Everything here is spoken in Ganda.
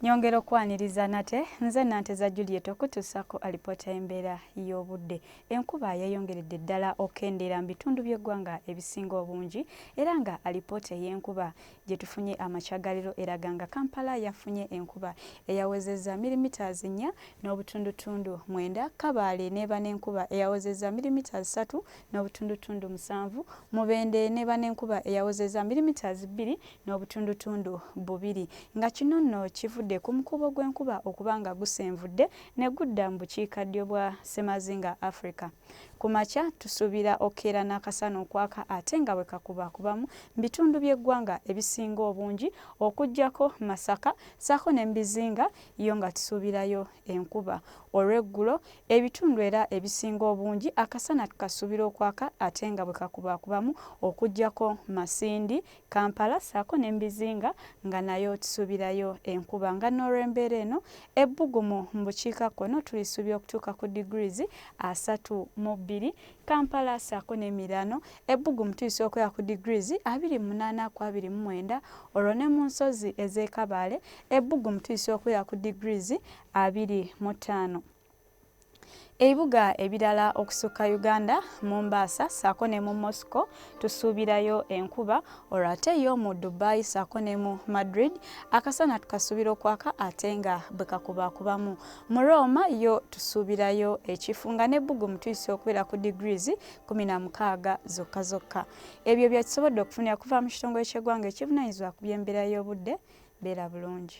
nyongera okwaniriza nate nze nanteza juliet okutuusako alipoota y'embeera y'obudde enkuba yayongeredde ddala okendeera mu bitundu by'eggwanga ebisinga obungi era nga alipoota ey'enkuba gye tufunye amakyagaliro eraga nga kampala yafunye enkuba eyawezeza milimiters nnya n'obutundutundu mwenda kabaale neeba n'enkuba eyawezeza milimiters satu n'obutundutundu musanvu mubende neeba n'enkuba eyawezeza milimiters bbiri n'obutundutundu bubiri nga kino nno kivudde ku mukuubo gw'enkuba okuba nga gusenvudde ne gudda mu bukiikaddyo bwa ssemazinga Africa. Ku makya tusuubira okeera n'akasana okwaka ate nga bwe kakubakubamu mu bitundu by'eggwanga ebisinga obungi okuggyako Masaka ssaako ne mu bizinga yo nga tusuubirayo enkuba. Olw'eggulo ebitundu era ebisinga obungi akasana tukasuubira okwaka ate nga bwe kakubakubamu okuggyako Masindi, Kampala saako ne mubizinga nga nayo tusubirayo enkuba nga nolwembeera eno ebbugumu mubukiika kkono tulisuubira okutuuka ku degrees asatu mu bbiri Kampala saako nemiraano ebbugumu tulisuubira okubeera ku degrees abiri munaana ku abiri mu mwenda olwo ne munsozi ezekabaale ebbugumu tulisuubira okubeera ku degrees abiri mu ttaano. Ebibuga ebirala okusukka Uganda, Mombasa ssaako ne mu Moscow tusuubirayo enkuba olwo ate yo mu Dubai ssaako ne mu Madrid akasana tukasuubira okwaka ate nga bwe kakubaakubamu. Mu Roma yo tusuubirayo ekifu nga n'ebbugumu tuyise okubeera ku degrees kkumi na mukaaga zokka zokka. Ebyo bye tusobodde okufunira okuva mu kitongole ky'eggwanga ekivunaanyizibwa ku by'embeera y'obudde. Beera bulungi.